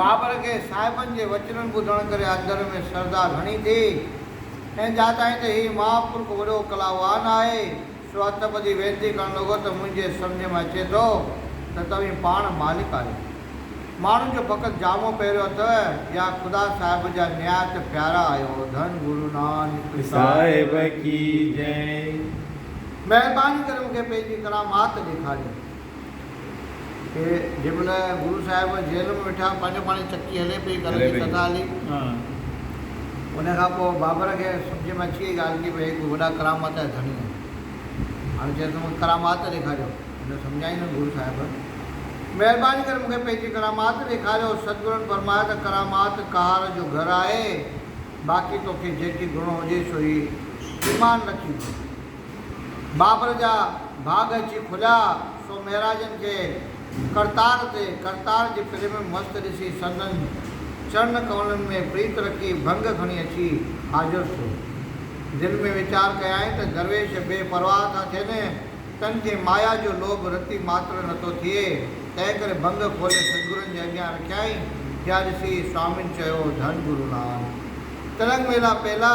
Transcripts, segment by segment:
بابر کي صاحبن جي وچنن ٻڌڻ ڪري اندر ۾ سرڌا گهڻي ٿي ۽ ڄاتائين ته هي مهاپرک وڏو ڪلاوان آهي، سو هٿ ٻڌي وينتي ڪرڻ لڳو ته منهنجي سمجهه ۾ اچي ٿو ته توهين پاڻ مالڪ آهيو. ماڻهن جو فقط جامو پهريو اٿئو يا خدا صاحب جا نهايت پيارا آهيو. ڌن گرو نانڪ صاحب ڪي جئي. مهرباني ڪري مون کي پنهنجي ڪرامات ڏيکاريو. کي جنهن مهل گرو صاحب جيل ۾ ويٺا پنهنجو پاڻ چڪي هلي پئي گهر جي ڪٿا هلي ان کان پوء بابر کي سمجهه ۾ اچي وئي ڳالهه ڪي ڀئي هي ڪو وڏا ڪرامات جا ڌڻي آهن هاڻي چيس ته مون کي ڪرامات ڏيکاريو هن سمجهايائين ته گرو صاحب مهرباني ڪري مون کي پنهنجي ڪرامات ڏيکاريو ستگرن فرمايو ته ڪرامات ڪهار جو گهر آهي باقي توکي جيڪي گهڻو هجي سو هي ايمان رکي ڏي. بابر جا ڀاڳ اچي کليا سو مهراجن کي ڪرتار تي ڪرتار جي پري ۾ مست ڏسي سندن چرن ڪملن ۾ پريت رکي ڀنگ کڻي اچي حاضر ٿيو. دل ۾ ويچار ڪيائين ته درويش بي پرواهه ٿا ٿين، تن کي مايا جو لوڀ رتي ماتر نٿو ٿئي، تنهن ڪري ڀنگ کولي سدگرن جي اڳيان رکيائين، جا ڏسي سوامين چيو، ڌن گروناٿ! تلنگ ميلا پيلا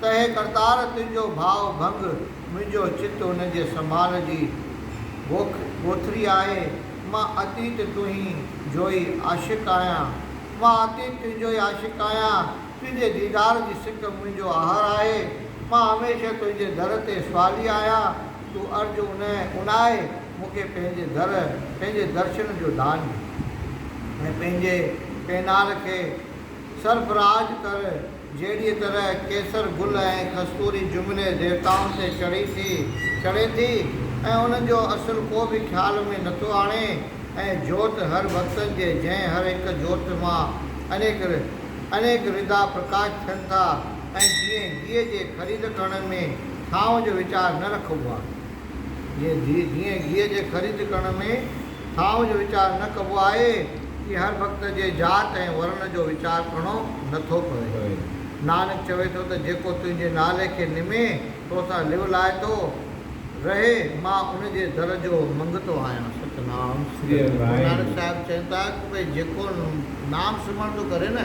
ته اي ڪرتار تنهنجو ڀاء ڀنگ، منهنجو چت ان جي سنڀال جي گوک گوٿري آهي، مان عتيت تنهين جوئي عاشق آهيان، مان عتيت تنهنجوئي عاشق آهيان، تنهنجي ديدار جي سڪ منهنجو آهر آهي، مان هميشه تنهنجي در تي سوالي آهيان، تون ارج انهين اونائي مون کي پنهنجي در، پنهنجي درشن جو دان ڏي. ۽ پنهنجي پينار کي سرفراز ڪر. جهڙيء طرح ڪيسر گل ۽ کستوري جهملي ديوتائن تي چڙهي ٿي چڙهي ٿي ۽ انهن جو اصل ڪو به خيال ۾ نٿو آڻي ۽ جوت هر ڀڳتن جي جنهن هر هڪ جوت مان انيڪ انيڪ ردا پرڪاش ٿين ٿا ۽ جيئن گيهه جي خريد ڪرڻ ۾ ٿانء جو ويچار نه رکبو آهي. جيئن گيهه جي خريد ڪرڻ ۾ ٿاء جو ويچار نه ڪبو آهي، تيئن هر ڀڳت جي ذات ۽ ورڻ جو ويچار ڪرڻو نه ٿو پوي. نانڪ چوي ٿو ته جيڪو تنهنجي نالي کي نمي، تو سان لو لائتو رهي، مان ان جي در جو منگتو آهيان. ستنام سريء گرونانڪ صاحب چين ٿا ته ڀئي جيڪو نام سمرڻ ٿو ڪري نه.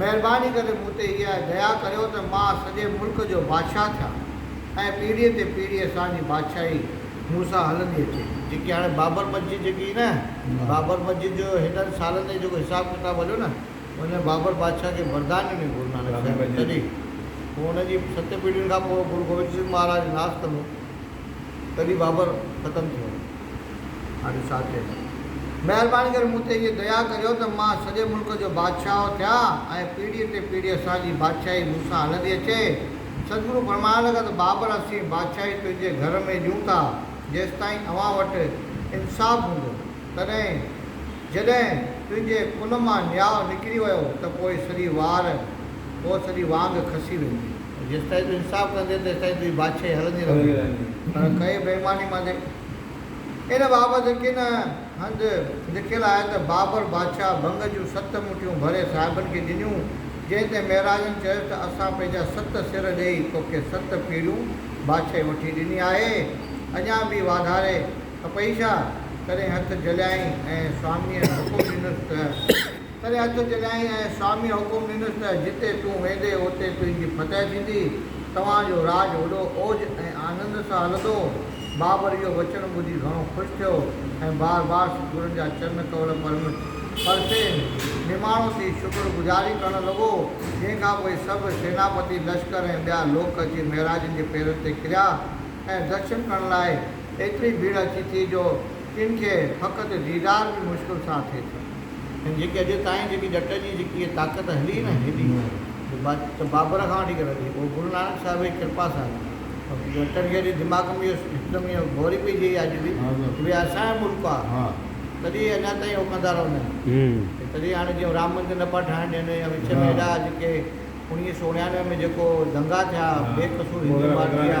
مهرباني ڪري مون تي اها ديا ڪريو ته مان سڄي ملڪ جو بادشاهه ٿيان ۽ پيڙهيء تي پيڙهي اسان جي بادشاهي مون سان هلندي اچي. جيڪي هاڻي بابر مسجد جيڪي هئي نه، بابر مسجد جو هيڏن سالن جو جيڪو حساب ڪتاب هليو نه، ان ۾ بابر بادشاهه کي وردان ڏنو گرو نانڪ صاحب جي تڏهن پوء ان جي ست پيڙهين کان پوء گرو گوبند سنگهه مهاراج ناس ڪندو تڏهن بابر ختم ٿيو. ساڍي سات ٿئي ٿي. مهرباني ڪري مون تي اهي ديا ڪريو ته مان سڄي ملڪ جو بادشاهه ٿيان ۽ پيڙهيء تي پيڙهي اسان جي بادشاهي مون سان هلندي اچي. سدگرو فرمائڻ لڳا ته بابر اسين بادشاهي تنهنجي گهر ۾ ڏيون ٿا جيستائين اوهان وٽ انصاف هوندو. تڏهن جڏهن تنهنجي ڪن مان نياء نڪري ويو ته پوء سڄي وار پوء سڄي وانگ کسي ويندي. جيستائين تون انصاف ڪندين تيستائين تنهنجي بادشاهي هلندي رهندي. پر ڪئين بيماني مانجي. ان بابت ڪن هنڌ لکيل آهي ته بابر بادشاهه ڀنگ جون ست مٺيون ڀري صاحبن کي ڏنيون، جنهن تي مهراجن چيس ته اسان پنهنجا ست سر ڏيئي توکي ست پيڙهيون بادشاهي وٺي ڏني آهي، اڃا به واڌاري کپئي ڇا؟ تڏهن هٿ جهليائين ۽ سوامنيء حڪم ڏنس ته. ڪري هٿ چڱائي ۽ سامي حڪم ڏنس ته جتي تون ويندي اتي تنهنجي فتح ٿيندي، توهان جو راڄ وڏو اوج ۽ آنند سان هلندو. بابر اهو وچن ٻڌي گهڻو خوش ٿيو ۽ بار بار ستگرن جا چرن ڪول پرم پرسين نماڻو ٿي شڪر گذاري ڪرڻ لڳو، جنهن کان پوء سڀ سيناپتي، لشڪر ۽ ٻيا لوڪ اچي مهراجن جي پيرن تي ڪريا ۽ درشن ڪرڻ لاء ايتري ڀيڙ اچي ٿي جو جن کي فقط ديدار به مشڪل سان ٿئي ٿو ۽ جيڪي اڄ تائين جيڪي ڄٽ جي جيڪي اهي طاقت هلي نه هيڏي جو بابر کان وٺي ڪري اهو گرو نانڪ صاحب جي ڪرپا سان هلي ٿي ڄٽن کي اڄ دماغ ۾ اهو هڪدم ايئن گهوري پئي ٿئي اڄ به جو اهي اسان جو ملڪ آ تڏهن اهي اڃا تائين اهو ڪندا رهندا آهن ۽ تڏهن هاڻي جيئن رام مندر نه پيا ٺاهڻ ڏين يا وچ ۾ اهڙا جيڪي اوڻيهه سؤ اڻيانوي ۾ جيڪو دنگا ٿيا بي قصور هندو مارجيا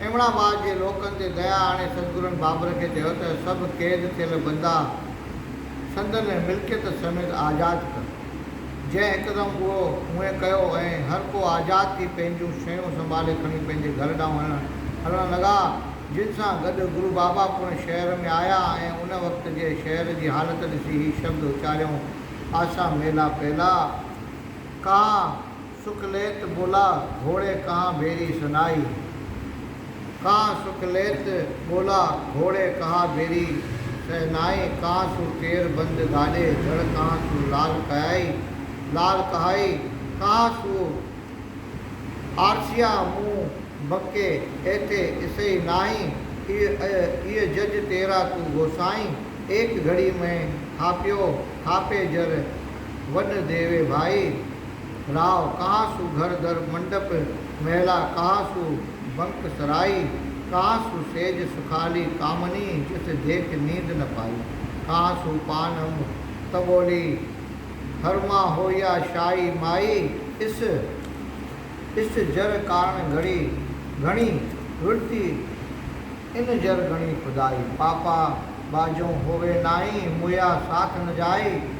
ايوڻ آباد جي لوڪن تي ديا آڻي سدگرن بابر کي چيو ته سڀ قيد ٿيل بندا سندن ملڪيت سميت آزاد ڪر. جنهن هڪدم اهو اونهي ڪيو ۽ هر ڪو آزاد ٿي پنهنجون شيون سنڀالي کڻي پنهنجي گهر ڏانهن هلڻ لڳا. جن سان گڏ گرو بابا پڻ شهر ۾ آيا ۽ ان وقت جي شهر جي حالت ڏسي هي شبد اچاريائون، آسا ميلا پيلا، ڪا. سک ليت ٻولا گهوڙي ڪها بيري سنائي. ڪان سک ليت ٻولا گهوڙي ڪها بيري سنائي. ڪان سون پير بند گاڏي جڙ ڪان سون لال ڪهائي. لال ڪهائي ڪان سون آرسيا مون بنڪي ايٿي اسئي ناهين. اي اي جج تيرا تون گوسائين. ايڪ گهڙي مين ٿاپيو ٿاپي جر وڏ ديوي ڀائي. راء ڪاهه سو گهر در منڊپ مهلا ڪاهه سو بنڪ سرائي ڪاهه سو سيج سکالي ڪامني جت جيٺ نيند نه پائي ڪاهه سو پان انب تبولي هر مان هوئيا شاهي مائي اس اس جر ڪارڻ گهڙي گهڻي ورتي ان جر گهڻي خدائي پاپا ٻاجهون هووي نائي مويا ساٿ نه جائي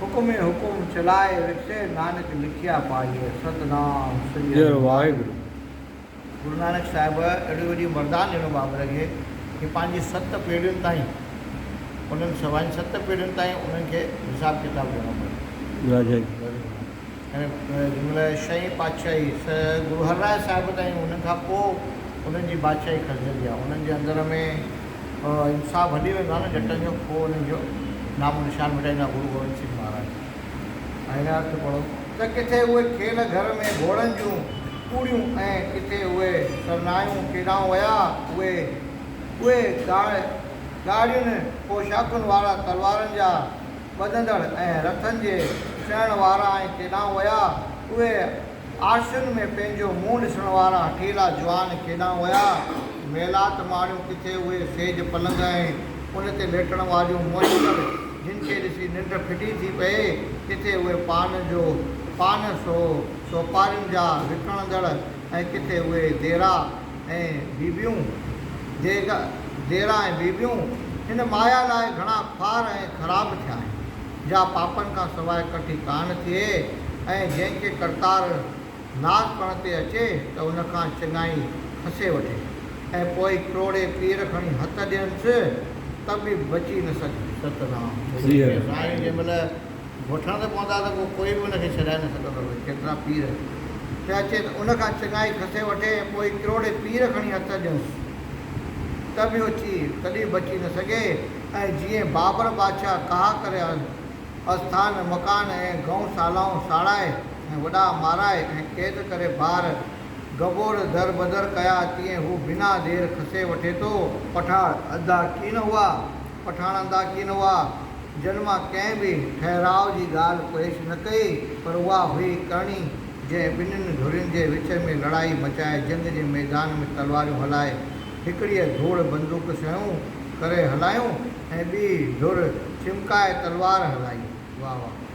حڪم ۽ حڪم چلائي وٺسي نانڪ لکيا پائي ستنام سڄڻ جئ واحگرو. گرو نانڪ صاحب اهڙي وڏي مردان ڏنو بابر کي جو پنهنجي ست پيڙهين تائين انهن سوائين ست پيڙهين تائين انهن کي حساب ڪتاب ڏيڻو پيو. راجائي. جمله شئين پاڇائي سه گرو هر راء صاحب تائين ان کان پوء انهن جي بادشاهي کسجندي آهي انهن جي اندر ۾ انصاف هلي ويندو آهي نه جٽن جو پوء انهن جو نامو نشان مٽائيندا گرو گوبند سنگهه مهاراج ۽ هن ارٿ پڙهو ته ڪٿي اهي کيل گهر ۾ گهوڙن جون پوڙهيون ۽ ڪٿي اهي سرنايون ڪيڏانهن ويا اهي اهي ڳاڙهين پوشاڪن وارا تلوارن جا ٻڌندڙ ۽ رٿن جي سهڻ وارا ۽ ڪيڏانهن ويا؟ اهي عارشن ۾ پنهنجو منهن ڏسڻ وارا هٺيلا جوان ڪيڏانهن ويا؟ ميلات ماڻيو ڪٿي اهي سيج پلنگ ۽ ان تي ليٽڻ واريون مهيڪر جن کي ڏسي ننڊ ڦٽي ٿي پئي، ڪٿي اهي پان جو پان سو سوپارين جا وڪڻندڙ ۽ ڪٿي اهي ديرا ۽ بيبيون، جيجا، جيئرا ۽ بيبيون هن مايا لاء گهڻا خوار ۽ خراب ٿيا آهن، جا پاپن کان سواء ڪٺي ڪانه ٿئي ۽ جنهن کي ڪرتار ناز پڻ تي اچي ته ان کان چڱائي کسي وٺي ۽ پوء ڪروڙي پير کڻي هٿ ڏينس ته به بچي نه سگهي. ستنام. سيد ابراهيم جنهن مهل. وٺڻ ته پوندا ته پوء ڪوئي به ان کي ڇڏائي نه سگهندو هو. ڪيترا پير ته اچي ته ان کان چڱائي کسي وٺي ۽ پوء ڪروڙين پير کڻي هٿ ڏينس ته به اچي تڏهن بچي نه سگهي ۽ جيئن بابر بادشاهه ڪاهه ڪري آستان مڪان ۽ گئون سالائون ساڙائي ۽ وڏا مارائي ۽ قيد ڪري بار گبور در بدر ڪيا تيئن هو بنا دير کسي وٺي ٿو. پٺاڙ اڌا ڪين هئا. پٺاڻ انداڪين هئا، جن مان ڪنهن به ٺهراء جي ڳالهه پيش نه ڪئي، پر اها هئي ڪرڻي، جنهن ٻنهين ڌرين جي وچ ۾ لڙائي مچائي، جنگ جي ميدان ۾ تلواريون هلائي، هڪڙيء ڌوڙ بندوق سنئون ڪري هلايون ۽ ٻي ڌر ڇمڪائي تلوار هلائي. واهه واهه.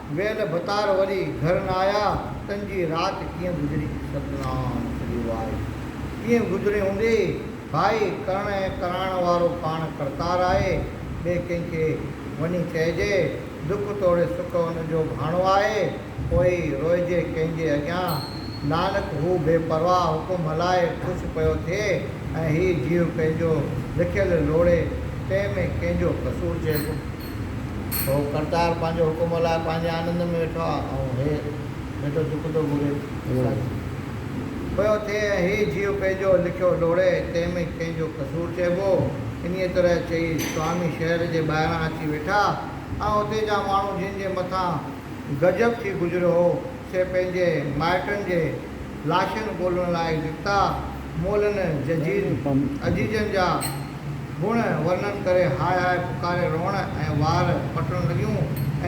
ويل ڀتار وري گهر نه آيا تن جي رات ڪيئن گذري ستنام سري واء ڪيئن گذري هوندي ڀائي ڪرڻ ۽ ڪرائڻ وارو پاڻ ڪرتار آهي ٻئي ڪنهن کي وڃي چئجي دک توڙي سک ان جو ڀاڻو آهي پوء ئي روئجي ڪنهن جي اڳيان نانڪ هو بي پرواهه حڪم هلائي خوش پيو ٿئي ۽ هي جيو ڪنهن جو لکيل لوڙي تنهن ۾ ڪنهن جو قصور چئبو. هو ڪرتار پنهنجو حڪم هلائي پنهنجي آنند ۾ ويٺو آ ۽ هي ويٺو چڪ ٿو گهري ٿي پيو ٿئي ۽ هي جيو پنهنجو لکيو لوڙي تنهن ۾ ڪنهن جو قصور چئبو انهيء طرح چئي سوامي شهر جي ٻاهران اچي ويٺا ۽ اتي جا ماڻهو جن جي مٿان غضب ٿي گذريو هو سي پنهنجي مائٽن جي لاشن ڳولڻ لاء نڪتا مولن ججيز عزيزن جا گڻ ورنن ڪري هاء هاء پڪاري روئڻ ۽ وار پٽڻ لڳيون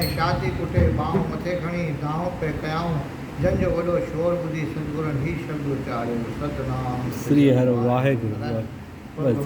۽ شاهتي ڪٽي ٻانهون مٿي کڻي دانهون پئي ڪيائون، جن جو وڏو شور ٻڌي سدگرن هي شبد اچاريو، ستنام سري هر واهي گرو ٻڌ.